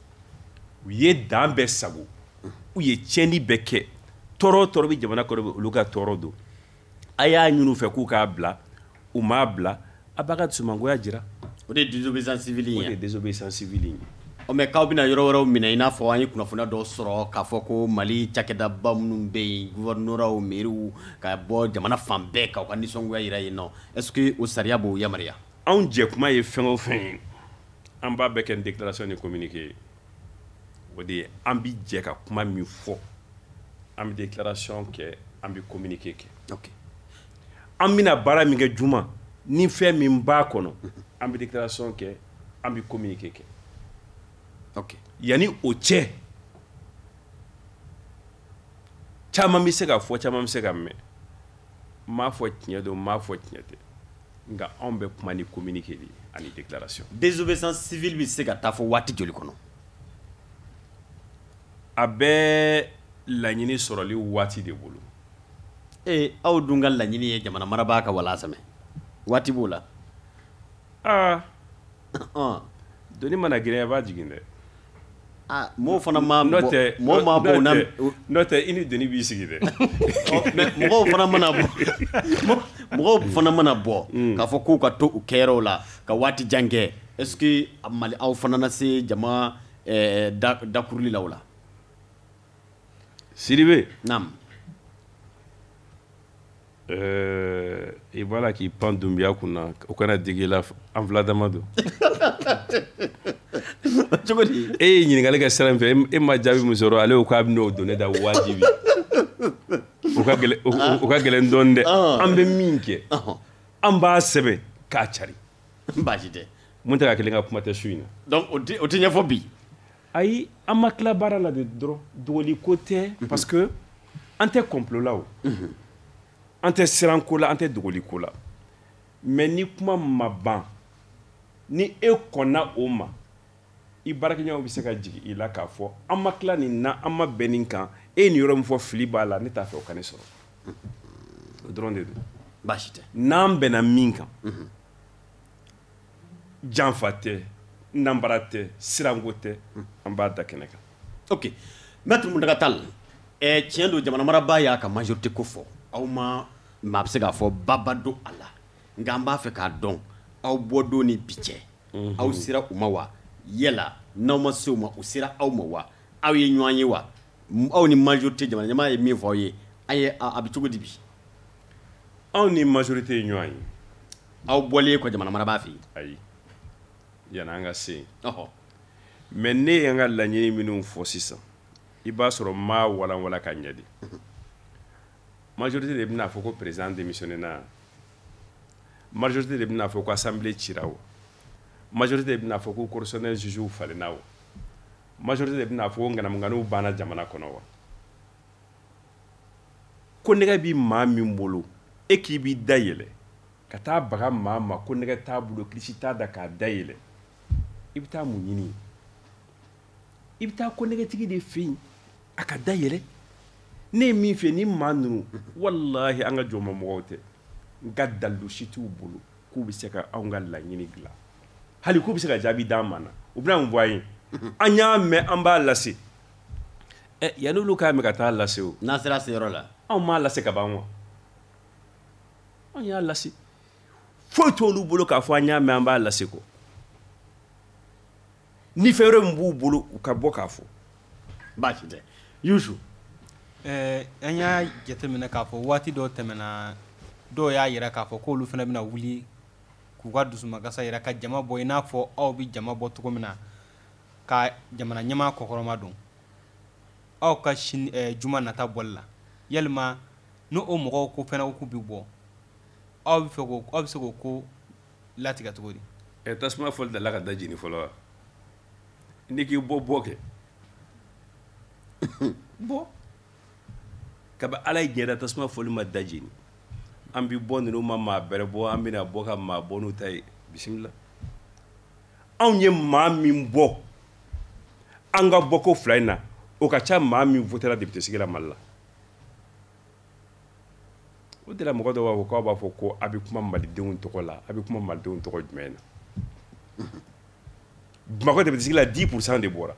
u ye dan bɛɛ sagon u ye tiɲɛni bɛɛ kɛ tɔɔrɔ o tɔɔrɔ bɛ jamana kɔnɔ bi olu ka tɔɔrɔ don a y'a ɲini u fɛ k'u k'a bila u m'a bila a b'a ka dusumangoya jira o de ye désobéissance civile ye o de ye désobéissance civile ye ɔ mais k'aw bɛna yɔrɔ wɛrɛw minɛ i n'a fɔ an ye kunnafoniya dɔw sɔrɔ k'a fɔ ko Mali cakɛdaba minnu bɛ yen gouvernorats mairies ka bɔ jamana fan bɛɛ k'aw ka nisɔngoya jira yen nɔ est ce que o sariya b'o yamaruya anw jɛkuma ye fɛn o fɛn ye an b'a bɛɛ kɛ ni déclaration ni communiqué ye o de ye an bɛ jɛ ka kuma min fɔ an bɛ déclaration kɛ an bɛ communiqué kɛ ok an bɛna baara min kɛ juma ni fɛn min b'a kɔnɔ an bɛ déclaration kɛ an bɛ communiqué kɛ ok yanni o cɛ caman bɛ se ka fɔ caman bɛ se ka mɛn n m'a fɔ tiɲɛ don n m'a fɔ tiɲɛ tɛ nka anw bɛ kuma ni communiqué de ye ani déclaration désobéissance civile bɛ se ka taa fo waati joli kɔnɔ a bɛ laɲini sɔrɔli waati de bolo ee aw dun ka laɲini ye jamana marabaa ka walansɛmɛ waati b'o la aa ah. doni mana girinya i b'a jigin dɛ mɔgɔ fana ma bɔ mɔgɔ ma bɔ n'o tɛ i ni doni b'i sigi dɛ mɔgɔw fana mana bɔ mɔgɔw fana mana bɔ k'a fɔ k'u ka to u kɛyɔrɔ la ka waati jan kɛ est ce que Mali aw fana na se jama dakuruli la o la Sidibe. Naamu. Ɛɛ i b'a la k'i pan Dunbiya kun na o kana digi i la an fila dama don. Cogo di? E ye ɲininkali kɛ sira min fɛ e ma jaabi min sɔrɔ ale ko k'a bɛ n'o don ne da wajibi. O ka gɛlɛn o ka gɛlɛn dɔɔni dɛ. An bɛ min kɛ. An b'a sɛbɛn k'a cari. Baasi tɛ. Muntaga kelen ka kuma tɛ su in na. Donc o tɛ ɲɛfɔ bi. ayi an ma tila baara la de dɔrɔn dogoli ko tɛ mhm. parce que an tɛ complot la o mhm. an tɛ siran ko la an tɛ dogoli ko la mais ni kuma ma ban ni e kɔnna o ma i baarakɛɲɔgɔnw bɛ se ka jigin i la k'a fɔ an ma tila nin na an ma bɛn nin kan e ye nin yɔrɔ min fɔ fili b'a la ne t'a fɛ o ka ne sɔrɔ mhm. o dɔrɔn de don baasi tɛ n'an bɛnna min kan janfa tɛ nanbara tɛ siranko tɛ an b'a da kɛnɛ kan ok maître mountaga tall tiɲɛ don jamana marabaa y'a ka majorité ko fɔ aw ma maa bɛ se k'a fɔ baba don a la nka an b'a fɛ k'a dɔn aw bɔ don ni bi cɛ aw sera u ma wa yala n'aw ma se u ma u sera aw ma wa aw ye ɲɔgɔn ye wa aw ni majorité jamana ɲɛmaa ye min fɔ aw ye aw ye a bɛ cogo di bi anw ni majorité ye ɲɔgɔn ye aw bɔlen kɔ jamana marabaa fɛ yen ayi yani an ka se yen mais ne ye n ka laɲini minnu fɔ sisan i b'a sɔrɔ n m'a walanwalan ka ɲɛ dɛ majorité de bɛna fɔ ko président démissionnéna majorité de bɛna fɔ ko assemblée cira wa majorité de bɛna fɔ ko cour constitutionnelle jugew falenna wa majorité de bɛna fɔ ko ŋanamuŋanamuw banna jamana kɔnɔ wa konnɛgɛ bɛ maa min bolo e k'i bɛ da yɛlɛ ka taa baga maa ma konnɛgɛ t'a bolo kilisi t'a da ka da yɛlɛ i bɛ taa mun ɲini i bɛ taa konnɛgɛtigi de fɛ yen a ka da yɛlɛ ne ye min fɛ ni maa ninnu walahi an ka jɔnma mɔgɔw tɛ nka dalilu si t'u bolo k'u bɛ se ka anw ka laɲini dilan hali k'u bɛ se ka jaabi d'an ma na u bɛna mun fɔ an ye an y'a mɛn an b'a lase yanni olu k'a mɛn ka taa lase n'a sera se yɔrɔ la anw m'a lase ka ban wa anw y'a lase foyi t'olu bolo k'a fɔ an y'a mɛn an b'a lase kɔ ni fɛn wɛrɛ min b'u bolo u ka bɔ k'a fɔ baasi tɛ an y'a jateminɛ k'a fɔ waati dɔ tɛmɛna dɔw y'a yira k'a fɔ k'olu fana bɛna wuli k'u ka dusumakasa yira ka jama bɔ i n'a fɔ aw bɛ jama bɔ cogo min na ka jamana ɲɛmaa kɔkɔrɔmadon aw ka sini eh, juma nata bɔli la yalima ni o mɔgɔw ko fɛnɛ k'u bɛ bɔ aw bɛ fɛ k'o aw bɛ se k'o ko latigɛ cogo di ɛ eh, tasuma fɔli dala ka da jeni fɔlɔ wa n'i k'i bɛ bɔ kɛ bɔ kabi ala ye diɲɛ da tasuma fɔli ma da jeni an bi bɔ ninnu ma maa bɛrɛ bɔ an bɛna bɔ ka maa bɔ n'u ta ye bisimila anw ye maa min bɔ an ka bɔko fila in na o ka ca maa min votera depite sigi la mali la o de la mɔgɔ dɔw b'a fɔ k'aw b'a fɔ ko a bɛ kuma malidenw tɔgɔ la a bɛ kuma malidenw tɔgɔ jumɛn na bamakɔ depite sigi la 10 pourcent de bɔra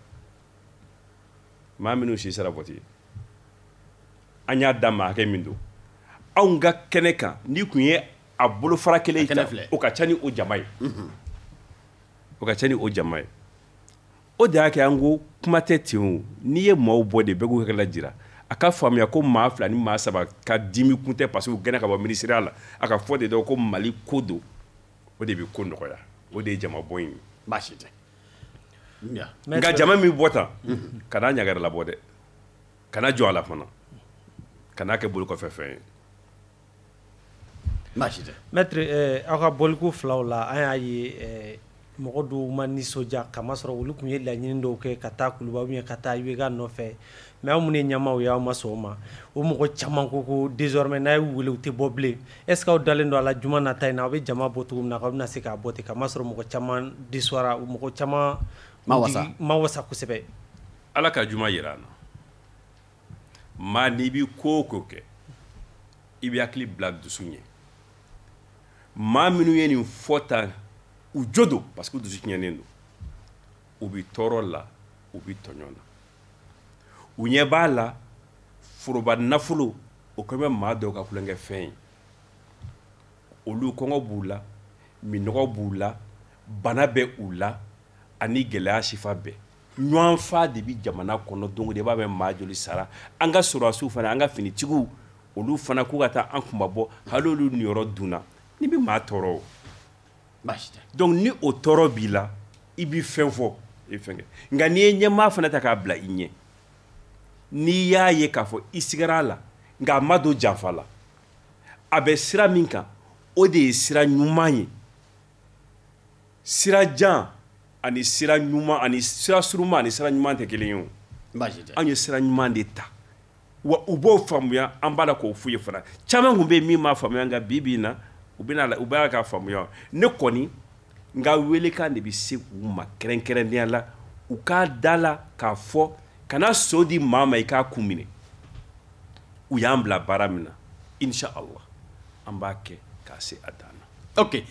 maa minnu si sera vote ye an y'a da maa hakɛ min don anw ka kɛnɛ kan n'i tun ye a bolofara kelen ta o ka ca ni o jama ye o ka ca ni o jama ye o de y'a kɛ an ko kuma tɛ ten o n'i ye maaw bɔ de bɛɛ k'u hakilila jira a k'a faamuya ko maa fila ni maa saba ka dimi kun tɛ parce que u gɛnna ka bɔ minisiriya la a ka fɔ de dɔn ko mali ko don o de bɛ ko nɔgɔya o de ye jama bɔ in ye baasi tɛ nka jama min bɔ tan kana ɲagari labɔ dɛ kana jɔ a la fana kana kɛ bolo kɔfɛ fɛn ye Mɛtiri aw ka bɔliko filaw la an y'a ye mɔgɔ dɔw ma nisɔndiya k'a masɔrɔ olu tun ye laɲini dɔw kɛ ka taa kuluba yen ka taa IBK nɔfɛ mais aw minnu ye ɲɛmaaw ye aw ma sɔn o ma o mɔgɔ caman ko ko désormais n'a ye u weele u tɛ bɔ bilen est-ce que aw dalen don a la juma nata in na aw bɛ jama bɔ cogo min na aw bɛna se k'a bɔ ten k'a masɔrɔ mɔgɔ caman déçoira mɔgɔ caman ma wasa kosɛbɛ ala ka juma jira an na maa n'i bɛ ko o ko kɛ i bɛ hakili bila dusu ɲɛ maa minnu ye nin fɔ tan u jo don parce que dusu tiɲɛnen don u bɛ tɔɔrɔ la u bɛ tɔɲɔn na u ɲɛ b'a la foroba nafolo o kɛlen bɛ maa dɔw ka tulonkɛfɛn ye olu kɔngɔ b'u la minnɔgɔ b'u la bana bɛ u la ani gɛlɛya sifa bɛɛ ɲɔgɔnfa de bɛ jamana kɔnɔ don o don i b'a mɛn maa joli sara an ka sɔrɔdasiw fana an ka finitigiw olu fana k'u ka taa an kunmabɔ hali olu niyɔrɔ dunna nin bɛ maa tɔɔrɔ o baasi tɛ donc ni o tɔɔrɔ b'i la i bɛ fɛn fɔ i fɛn kɛ nka n'i ye ɲɛmaa fana ta k'a bila i ɲɛ n'i y'a ye k'a fɔ i sigara a la nka a ma don janfa la a bɛ sira min kan o de ye sira ɲuman ye sira jan ani sira ɲuman ani sira surunman ani sira ɲuman tɛ kelen ye o anw ye sira ɲuman de ta wa u b'o faamuya an b'a la k'o f'u ye fana caman tun bɛ yen min m'a faamuya nka bi bi in na u bɛna la u b'a ka faamuya ne kɔni n ka welekan de bɛ se u ma kɛrɛnkɛrɛnnenya la u ka da a la k'a fɔ kana so di maa ma i k'a kun minɛ u y'an bila baara min na insha allah an b'a kɛ k'a se a dan na ok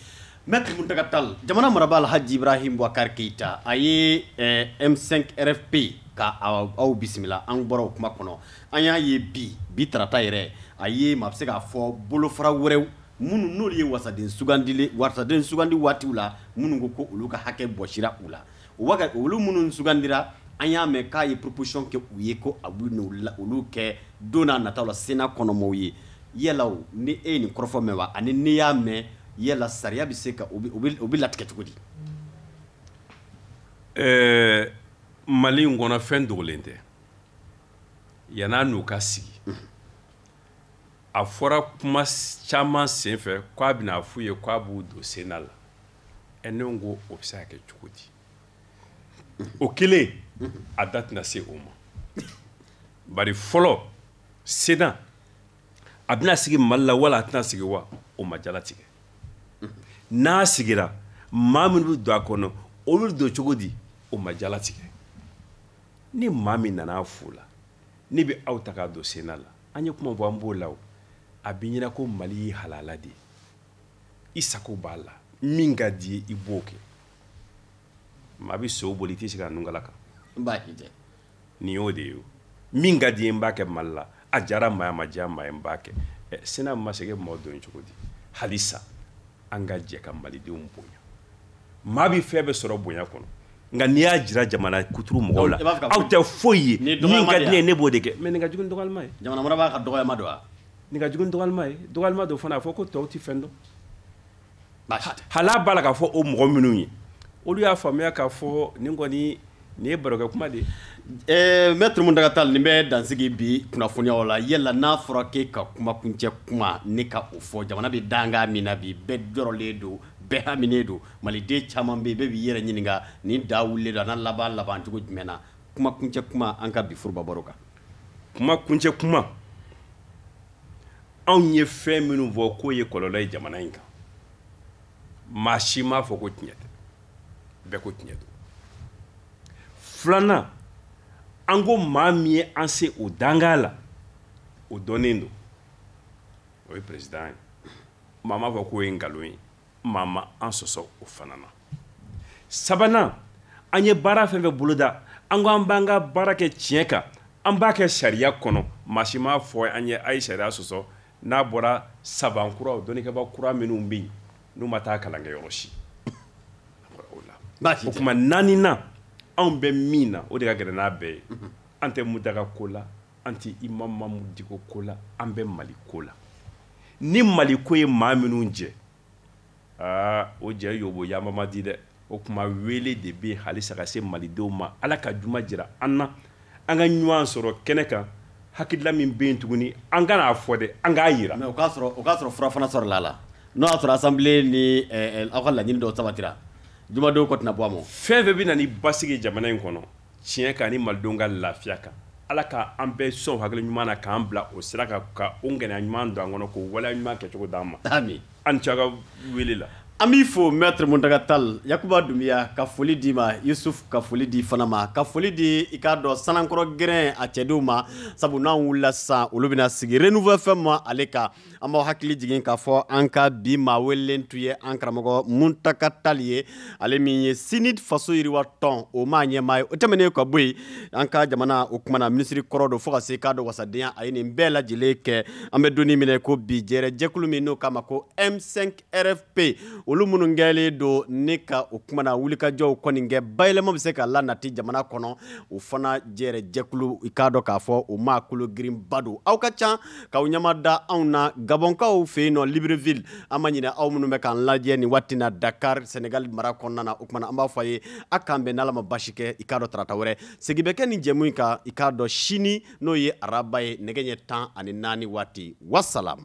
mɛtiri muntaga tali jamana marabaa alhaji ibrahim bubakari keyita a ye m5rfp ka aw bisimila an bɔra o kuma kɔnɔ an y'a ye bi bi tarata yɛrɛ a ye maa bɛ se k'a fɔ bolofara wɛrɛw minnu n'olu ye wasaden sugandili wasaden sugandi waatiw la minnu ko ko olu ka hakɛ bɔsira u la o wa olu minnu sugandira an y'a mɛn k'a ye proposition kɛ u ye ko a bɛ olu kɛ don nata la sénat kɔnɔmaaw ye Yala ni e ye nin kɔrɔfɔ mɛn wa ani n'i y'a mɛn yala sariya bɛ se ka o bɛ latigɛ cogo di ɛɛ mali in kɔnɔ fɛn dogolen tɛ yan a n'u ka sigi a fɔra kuma caman sen fɛ k' a bɛna a f'u ye k' a b'u don Sénat la ɛ ne ko o bɛ se ka kɛ cogo di o kelen a da tɛna se o ma bari fɔlɔ sen a bɛna sigi mali la wala a tɛna sigi wa o ma jalatigɛ n'a sigira maa minnu bɛ don a kɔnɔ olu don cogo di o ma jalatigɛ ni maa min nana a f'o la ne bɛ aw ta k'a don Sénat la an ye kuma bɔ an b'o la a b'i ɲɛ na ko mali y'i halala de ye i sago b'a la min ka d'i ye i b'o kɛ maa bɛ so boli i tɛ se ka nunkala kan nin y'o de ye min ka di n ye n b'a kɛ mali la a jara maa ye a ma diya maa ye n b'a kɛ Sénat ma sigi mɔgɔ don cogo di halisa an ka jɛ ka malidenw bonya maa bɛ fɛn bɛɛ sɔrɔ bonya kɔnɔ nka n'i y'a jira jamana kuturu mɔgɔw la aw tɛ foyi ye min ka di ne ye ne b'o de kɛ mɛ nin ka jugu ni dɔgɔyalima ye jamana marabaa ka dɔgɔyalima don wa nin ka jugu ni dɔgɔyalima ye dɔgɔyalima don fana a fɔ ko tɔw tɛ fɛn dɔn hal'a b'a la k'a fɔ o mɔgɔ minnu ye olu y'a faamuya k'a fɔ nin kɔni nin ye barokɛ kuma de ye Maître Mountaga Tall nin bɛ dansigi bi kunnafoniyaw la yala n'a fɔra k'e ka kumakuncɛ kuma ne ka o fɔ jamana bɛ dankan min na bi bɛɛ jɔrɔlen don bɛɛ haminen don maliden caman bɛ yen bɛɛ b'i yɛrɛ ɲininka nin da wulilen don a na laban labancogo jumɛn na kumakuncɛ kuma an ka bi foroba baro kan kumakuncɛ kuma anw ye fɛn minnu fɔ k'o ye kɔlɔlɔ ye jamana in kan maa si m'a fɔ ko tiɲɛ tɛ bɛɛ ko tiɲɛ don filanan an ko maa min ye an se o dankan la o dɔnnen don o ye président ye maa m'a fɔ k'o ye nkalon ye maa ma an sɔsɔ o fana na sabanan an ye baara fɛn fɛn boloda an ko an b'an ka baara kɛ tiɲɛ kan an b'a kɛ sariya kɔnɔ maa si m'a fɔ an ye a ye sariya sɔsɔ n'a bɔra savant kuraw dɔnnikɛba kura minnu bɛ yen n'u ma taa kalan kɛ yɔrɔ si o tuma naaninan anw bɛ min na o de ka gɛlɛn n'a bɛɛ ye mhm. an tɛ Mountaga ko la an tɛ imam Mahmoud Dicko ko la an bɛ mali ko la ni mali ko ye maa minnu jɛ aa o jɛ yɔbɔyaba man di dɛ o tuma wele de bɛ halisa ka se malidenw ma ala ka juma jira an na an ka ɲɔgɔn sɔrɔ kɛnɛ kan hakilila min bɛ yen tuguni an kana a fɔ dɛ an k'a jira o k'a sɔrɔ fura fana sɔrɔla a la n'o y'a sɔrɔ assemblée ni aw ka laɲini dɔw sabatira jumadenw kɔ tɛna bɔ a ma fɛn fɛn bɛ na ni basigi jamana in kɔnɔ tiɲɛ kan ni malidenw ka lafiya kan ala ka an bɛɛ sɔn hakili ɲuman na k'an bila o sira kan ka o ŋaniya ɲuman don an kɔnɔ k'o waleya ɲuman kɛcogo d'an ma ami a ni ce a ka wele la an b'i fo maître muntaga tall yakuba dunbiya ka foli d'i ma yusuf ka foli d'i fana ma ka foli di i k'a dɔn sanankɔrɔ gɛrɛn a cɛdenw ma sabu n'an wulila sisan olu bɛna sigi renouveau fm ma ale kan an b'aw hakili jigin k'a fɔ an ka bi maa welelen tun ye an karamɔgɔ muntaga tall ye ale min ye CNID faso yiriwa tɔn o maa ɲɛmaa ye o tɛmɛnen ka bɔ yen an ka jamana o kumana minisiri kɔrɔ don fo ka se k'a dɔn wasadenya a ye nin bɛɛ lajɛlen kɛ an bɛ don in min na i ko bi jɛrɛ jɛkulu min n'o k'a ma ko M5 RFP olu minnu kɛlen don ne ka o kumana wulikajɔw kɔni kɛ bayɛlɛma bɛ se ka lanati jamana kɔnɔ o fana jɛrɛ jɛkulu i k'a dɔn k'a fɔ o maa kologirinba don aw ka ca k'aw ɲɛma da anw na gabɔnkaw fɛ yen nɔ libreville an ma ɲinɛ aw minnu bɛ k'an lajɛ nin waati na dakar sɛnɛgali mara kɔnɔna na o kumana an b'a fɔ a ye a k'an bɛn n'ala ma basi kɛ i k'a dɔn tarata wɛrɛ segin bɛ kɛ nin jɛmu in kan i k'a dɔn sini n'o ye araba ye nɛgɛ ɲɛ tan ani naani waati wasalam